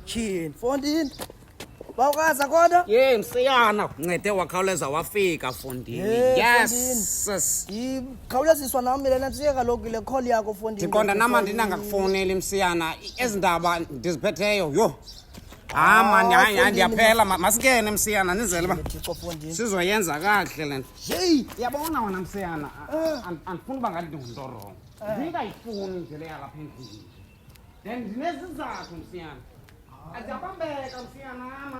Chin, fondini. Bawukaza kodwa? Ye msiyana, ncede wakhawuleza wafika fondini. Hey, Yes. sis. Yikhawuleziswa nami lena msiye kaloku le call yakho fondini. Ndiqonda nama ndinangakufowuneli msiyana. Ezi ndaba ndiziphetheyo. Yho, Ah, ah man hayi hayi ndiyaphela masikene msiyana nizele uba sizoyenza kakuhle le nto yeyi yabona wena msiyana ah. andifuni uba ngathi ndingumntu orongo eh. ndingayifuni nje le yalapha endlini then ndinezizathu msiyana ah. aziyabambeka msiyanama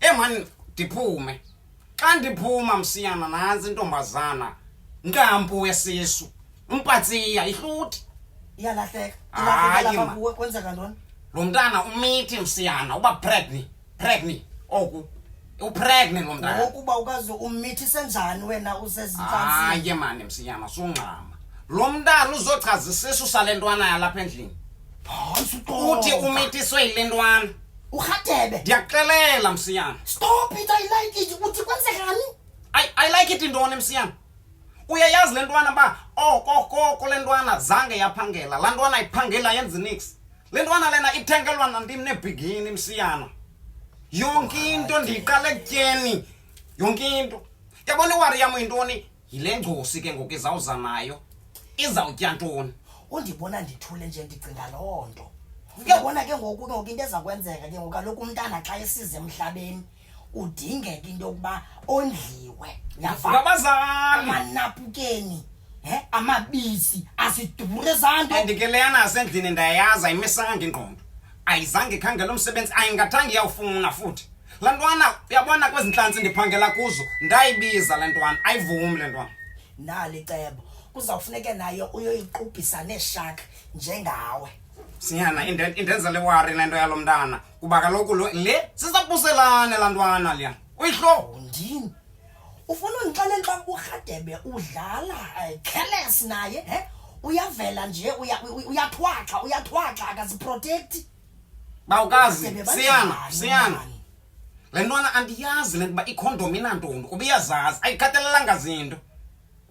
emani eh, ndiphume xa ndiphuma msiyana nantsi intombazana nkampu wesisu umpatsiya ihluthi iyalahleka ilahlekelaakuwe kwenzeka ntoni lo mntana umithi msiyana uba pregni pregni oku upregni lo mntana ngokuba ukaze umithi senjani wena usezintsantsi mani msiyana sungxama lo mntana uzochaza isisu sale ntwana yalapha endlini uthi umitiswe yile ntwana Urhatebe. Ndiyakuxelela msiyana. Stop it, I like it. Uthi kwenzekani? I, I like it intoni msiyana? Uyayazi le ntwana uba okokoko oh, le ntwana zange yaphangela. Laa ntwana iphangela yenzi nix. Le ntwana lena ithengelwa nandim nebhigini msiyana. Yonke into ndiyiqala ekutyeni. Yonke into. Yabona iwari yam yintoni? yile ngcosi ke ngoku izawuza nayo izawutya ntoni undibona ndithule nje ndicinga loo nto uyabona ke ngoku ke ngoku into eza kwenzeka ke ngoku kaloku umntana xa esize emhlabeni udingeka into yokuba ondliwe Ndivuka abazali amanapukeni he amabisi asidubure zanto andike leyana asendlini ndayayazi ayimisanga ingqondo ayizange khangela umsebenzi ayingathanga iyawufuna futhi la ntwana uyabona kwezi ntlantsi ndiphangela kuzo ndayibiza le ntwana ayivumi le ntwana nali cebo kuzawufuneke nayo uyoyiqubhisa neeshaka njengawe sinyana indenza le wari le nto yalo mntana kuba kaloku le sisabuselane la ntwana liya uyihloo ndini ufuna undixelela uba urhadebe udlala eh, careless naye he uyavela nje uyathwaxa uyathwaxa akaziprotekthi bawukazi siyana siyana le ntwana andiyazi le nto uba ikhondom inantombi kuba iyazazi ayikhathalelanga zinto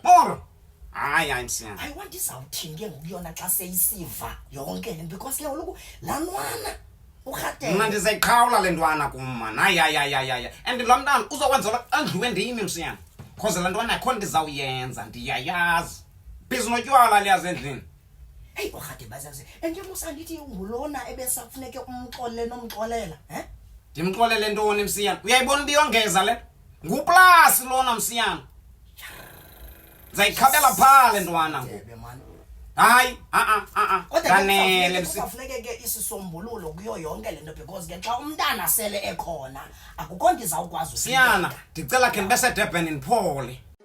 Poro. Hayi hayi msiyana. I want izawuthini ke ngokuyona xa seyisiva yonke le nto because ke kaloku laa ntwana urhatele. Mna ndizayiqhawula le ntwana kum mani. Hayi hayi hayi hayi hayi. And lo mntana uzokwenzelwa andliwe ndimi msiyana. Cause laa ntwana akho nto izawuyenza ndiyayazi. Bhizi notywala liyazi endlini. Heyi urhade bazaze and yamusa ndithi ngulona ebesafuneke umxolele nomxolela um ndimxolele ntoni msiyana uyayibona uba iyongeza le nguplasi lona msiyana ndizayikhabela phaa le ntwana ngoku Ndebe, man. hayi a-a a-a Kodwa ke ndanele kusafuneke- msi kusafuneke ke isisombululo kuyo yonke le nto because ke xa umntana sele ekhona akukho nto izawukwazi siyana ndicela khe ndibe sedurban ndiphole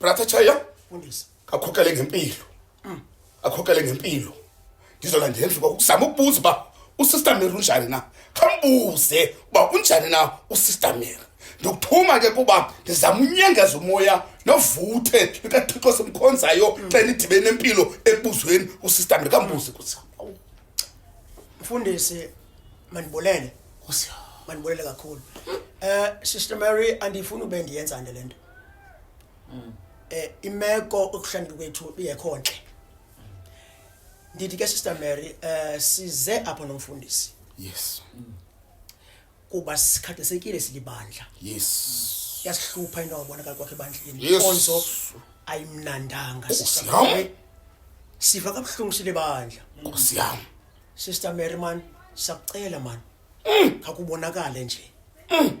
brother chaya mfundisi akhokele ngempilo mm. akhokele ngempilo ndizola ndenze uba ukuzama ukubuza uba usister mary unjani na khambuze uba unjani na usister mary ndikuthuma ke kuba ndizama unyengeza umoya novuthe likathixo simkhonzayo mm. xa nidibene nempilo ekubuzweni usister mary kambuze kusa mfundisi mandibulele mandibulele kakhulu um sister mary andifuni ube ndiyenza nto le nto mm. eh imeko okuhlangana kwethu iyekho ntle ndithi ke sister Mary eh size apha nomfundisi yes mm. kuba sikhathisekile silibandla yes yasihlupha into obonakala kwakhe ebandleni inkonzo ayimnandanga oh, sisafike sifa kabuhlungu silibandla nkosi yami sister Mary man sakucela man mm. akubonakale nje mm.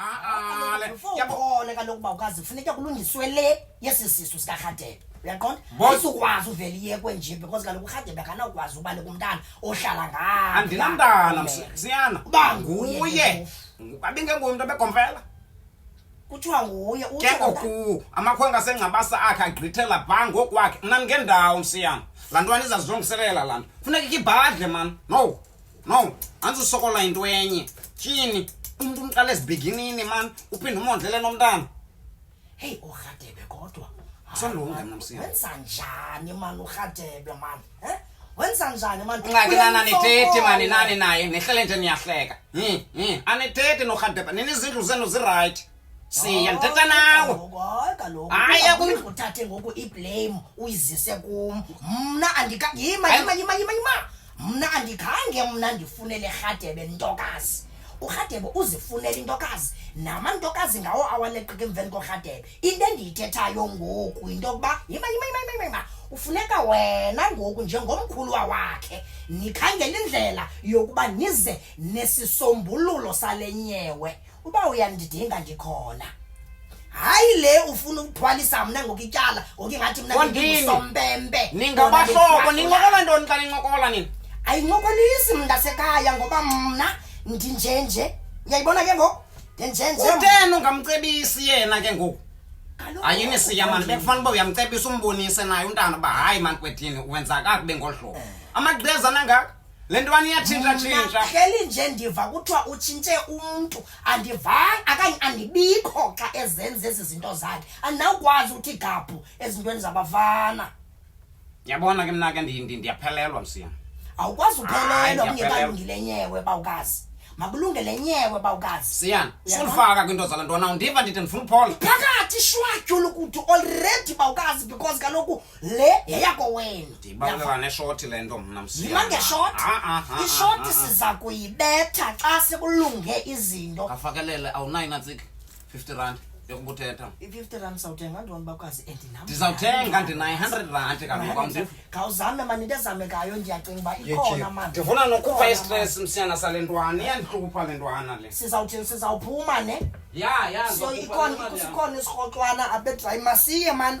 Ah, le- Before yabo- ukhona kaloku uba ukwazi kufuneka kulungiswe le yesi sisu sikarhadebe uyaqonda Boss- ayizukwazi uvele iyekwe nje because kaloku urhadebe akanawukwazi ubaleka umntana ohlala ngayo andinamntana Umele. msiyana Uba nguye nguye ke Ngu- abingenguye umntu abegomfela kuthiwa nguye ke utsho kona- ngoku amakhwenkwe asengcabasa akhe agqithela bha ngokwakhe mna ndingendawo msiyana laa ntwana izazilungiselela laa nto funeka ikhe ibhadle mani no no antsi usokola yinto enye tyini umntu umqala ezibiginini mani uphinde umondlele nomntana heyi urhadebe kodwa Sonilunga mna msini. Wenza njani mani urhadebe mani? Eh? Wenza njani mani? Ungathi nani anithethe mani nani naye nehlele nje niyahleka. Hi hi anithethe norhadebe. Nini izindlu zenu ziright. siya ndithetha nawe Ngokoy kaloku. Hayi, Uba akukho- Uthathe ngoku iblame uyizise kum. Mna andika yima Hayi. yima yima yima yima. Mna andikhange mna ndifunele Rhadebe ntokazi. URhadebe uzifunela intokazi namantokazi ngawo awaleqika emveni koRhadebe. Into endiyithethayo ngoku yinto yokuba yima yima yima yima, yima yima. Ufuneka wena ngoku njengomkhuluwa wakhe nikhangele indlela yokuba nize nesisombululo sale nyewe uba uyandidinga ndikhona hayi le ufuna ukuthwalisa mna ngoku ityala ngoku ingathi mna Kondini. ndingusompempe ningabahlobo nincokola ntoni xa nincokola nina ayincokolisi mntasekhaya ngoba mna ndinjenje uyayibona ke ngoku ndinjenje uteni ungamcebisi yena ke ngoku Kaloku- ayini siya mani bekufanele uba uyamcebisa umbonise naye umntana uba hayi mani kwethini wenza kakubi ngolu hlobo amagqeza nangaka le ntwana iyatshintshatshintsha hleli nje ndiva kuthiwa utshintshe umntu andivanga akanye andibikho xa ezenza ezi zinto zakhe andinawukwazi ukuthi gabhu ezintweni zabafana yabona ke mna ke ndiyaphelelwa msiya awukwazi uphelelwa kungekalungile nyewe bawukazi makulunge le nyewe bawukazi siyana sulifaka kwinto zala ntwana undiva ndithi ndifuna uphola phakathi shwatyula ukuthi already bawukazi because kaloku le yeyako wenu ndibaleka neshoti le nto mna yima ngeshoti ah, ah, ah, ishoti siza kuyibetha xa sekulunge izinto afakelele awunayo natsiki 50 rand yokubuthetha i-fifty rand sawuthenga ndibona bakwazi and nam ndizawuthenga ndinayi hundred rand kaloku khawuzame mani into ezamekayo ndiyacinga uba ikhona mani ndifuna nokhupha istress msiyana sale ntwana iyandihlupha le ntwana le sizawuthini sizawuphuma ne ya ya so ikhona isikrokxwana abedrayi masiye mani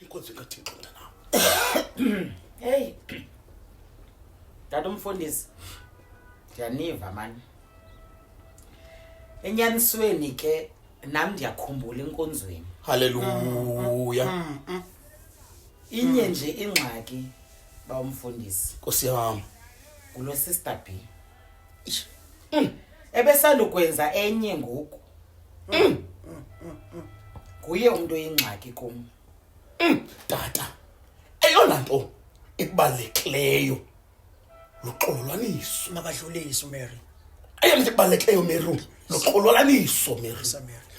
inkonzo kathixo mntanam heyi tata umfundisi ndiyaniva mani enyanisweni ke nam ndiyakhumbula enkonzweni haleluya mm, mm, mm. inye nje ingxaki bawumfundisi nkosi yam ngulo sister b Mm. ebesandukwenza enye ngoku Mm. nguye umntu oyingxaki kum tata eyona nto ekubalulekileyo luxololwaniso makadlulise umary eyona nto ekubalulekileyo meru noxololaniso miri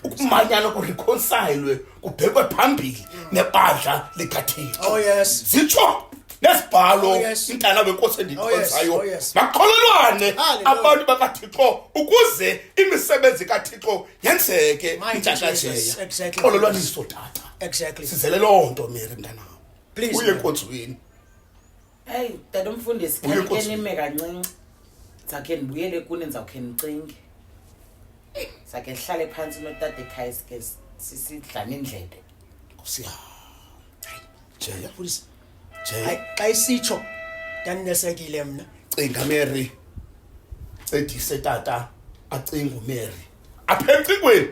ukumanyana kurikhonsayilwe kubhekwe phambili nebandla likathixo oh, zitsho nesibhalo oh, intana wenkosi oh, endiyikhonzayo makholelwane abantu bakathixo ukuze imisebenzi kathixo yenzeke intshatshajeya xololwaniso tata sizele loo nto miri mntanam uye enkonzweni eyi tata umfundisi Uye khanike Nkosi. nime kancinci ndizawukhe ndibuyele kuni ndizawukhe ndicinge ndizawukhe ndihlale phantsi notata ekhaya sike sisidlane indlebe nkosi yam jeya mfundisi jeya Hayi, xa isitsho ndandinesekile mna cinga mary cedise tata acinga umary apha emcingweni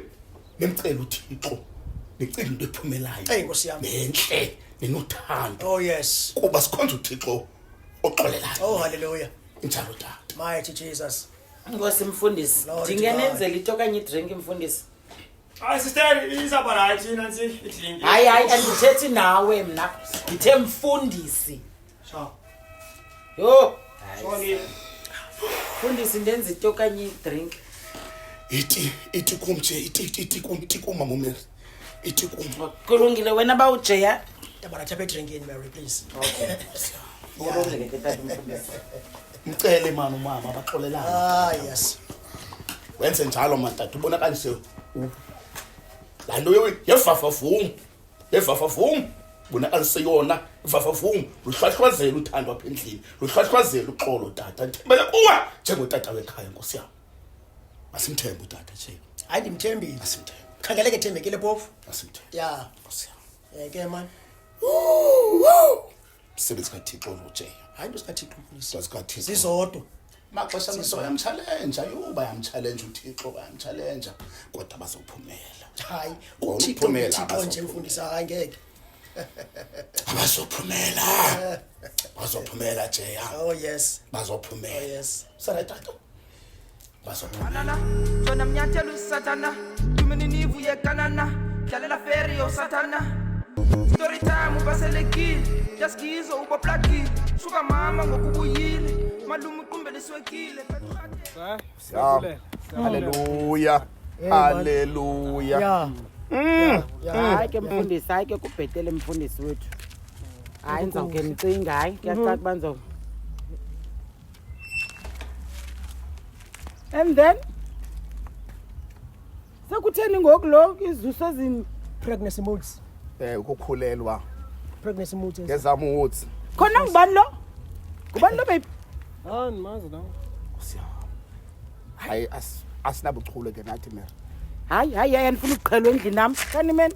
nimcela uthixo nicinga into ephumelayo nentle nenothando oh yes kuba sikhonza uthixo oxolelayo oh haleluya injalo tata mighty jesus ngosi mfundisi ndingenenzela into okanye idrink mfundisi hayi sister izaba right nansi idrink hayi hayi andithethi nawe mna ndithe mfundisi Sha. Yo. Shoni. Fundisi ndenza ito kanye drink. Iti iti kum nje iti iti kum iti kum mama Mary. Iti kum. Oh, kulungile wena ba ujeya. Tabara chape drink in Mary please. Okay. Kulungile ke tata mfundisi. Mcele mama umama baxolelana. Ah yes. Wenze njalo matata ubonakalise. Lanto yewe yefafa vumu. evavavum bona aliseyona ivavavum luhlwahlwazela uthando apha endlini luhlwahlwazela uxolo tata ndithembele kuwe njengotata wekhaya nkosi yam masimthembe utata nje hayi ndimthembile masimthembe khangeleke thembekile phofu masimthembe ya nkosi yam um ke mani msebenzi kathixo olujeyo hayi into zikathixo mfundisi zikathixo zizodwa maxesha amehlo bayamtshalenja yho bayamtshalenja uthixo bayamtshalenja kodwa bazophumela hayi uthixo uthixo nje mfundisi hayi ngeke abazophumela bazophumela jeya oh yes bazophumela oh yes sarayi tato Banana, tona miantelo satana Tumini nivu ye kanana Kialela feri yo satana Story time ubaselekile Jaskizo ubo plaki Suka mama ngokubuyile Malumu kumbe liswekile Siyabule Hallelujah eh, Hallelujah Yeah mm. Yeah Hayi ke mfundisi hayi ke kubhetele mfundisi wethu Hayi ndizawuke ndicinga hayi kuyacaca mm-hmm. uba ndizawuke and then sekutheni ngoku lo izuso ezini pregnancy moods eh ukukhulelwa pregnancy moods ngezam woods khona ngubani lo ngubani lo baby hayi ndimazi nawe hayi asinabuchule ke nathi mera hayi hayi hayi andifuna ukuqhelwa endlini nam kanimeni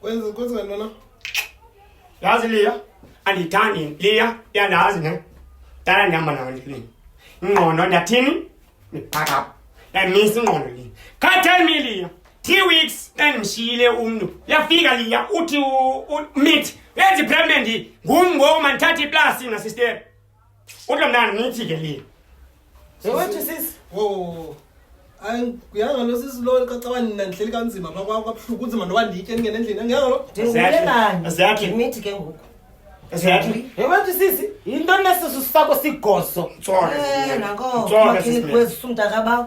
Kwenza kwenza ngantona? Yazi Leah, andithandi Leah, uyandazi ne? Dala ndihamba nawe endleleni. Ingqondo ndathini? Back up. Ndayimisa ingqondo le. Can't tell me Leah. Three weeks ndandimshiyile umntu. Yafika Leah uthi u- u- meet. Yenza ipregnant ngum ngoku mandithathe iplasi na sister. Uthi mntana nithi ke le. Sewathi sisi. Wo. Ay kuyanga lo sisi lo kacawa nina ndihleli kanzima pha kwakho kabuhlungu kunzima noba nditye ndingena endlini angiyanga lo. Ndingule bani? Exactly. Ngimithi ke ngoku. Exactly. Sewathi sisi. Yinto nesisu sakho sigoso. Tsona. Eh nako. Tsona sisi. Makhini kwezi sumntaka bawo.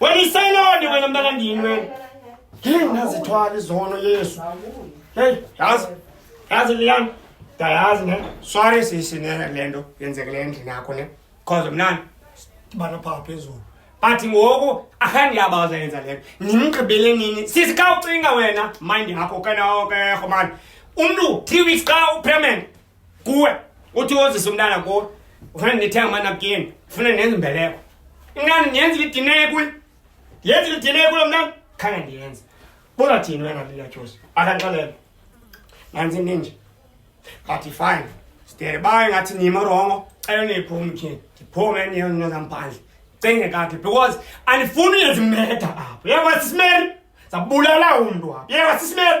Wena iselonde wena mntanandini wena. Hey, nazithwala izono Yesu. Hey, yazi. Yazi liyani. Dayazi ne. Sorry sisi ne lento yenzekele endlini yakho ne. Cause mnani bana pha phezulu. But ngoku akhandi yabaza yenza lento. Nimgqibele nini? Sisi ka ucinga wena mind yakho kana oke khomani. Umntu 3 weeks ka upermanent kuwe uthi wozisa umntana kuwe ufuna ndithenga amanapkini ufuna ndenza imbeleko inani ndiyenza lidineye kuye ndiyenza lidineye kulo mntana khange ndiyenze buzathini wena liyatyusi akanxelelo nanzi ninje athi fine sidere baye ngathi nimo rongo cela niyiphume tyhini ndiphume eniyonezambhandle cinge kakhe because andifuni uyenza imeda apho yekwa sisimeri zabulala umntu apho yekwa sisimeri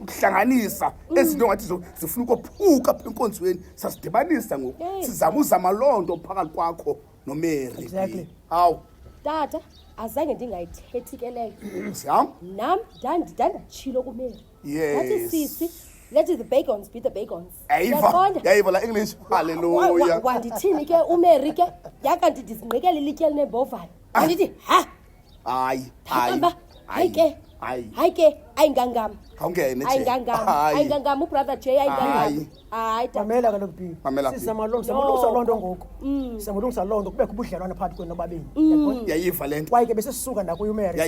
ukuhlanganisa mm. ezi nto ngathi zifuna ukophuka apha enkonzweni sasidibanisa ngoku sizama uzama loo nto phakathi kwakho nomeri hawu tata azange ndingayithethi ke leyo siyam nam ndanditshilo kumeri athi sisi let the bagons be the bagons yayiva la english halleluya wandithini ke umeri ke yakanti ndizingqikela ilityeli nembovane andithi ha hayi hayi hayike hayike ayingangam khawungene ayingangam ayingangam ubrother j ayingangam hayi mamela kaloku b sisamalungisa loo nto ngoku mm. sisamalungisa loo nto kubekho ubudlelwane phakathi kwenu nobabini mm. yayiva le nto kwaye ke besesisuka nakuyo umary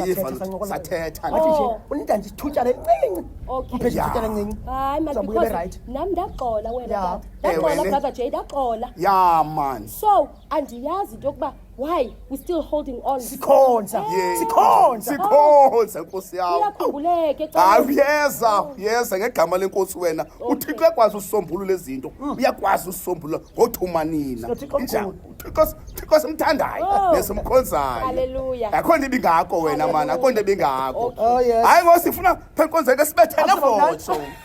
sathetha wathi nje oh. unida nje ithutyana elincinci umphezu ithutyana elincinci hayi mazambuye berayithi nam ndaxola wena ndagxola brother j ndaxola ya man so andiyazi into yokuba Why? We're still holding on. Sikhonza. Yeah. Sikhonza. Sikhonza Nkosi yami. Uyakhululeke xa. Hayi uyeza, uyeza ngegama lenkosi wena. UThixo ekwazi usombulula izinto. Mm. Uyakwazi usombulula ngothuma nina. Injani? UThixo uThixo simthandayo oh. nesimkhonzayo. Hallelujah. Akho nto ibingako wena mana, akho nto ibingako. Oh, Hayi ngosifuna phenkonzeke sibethele voto.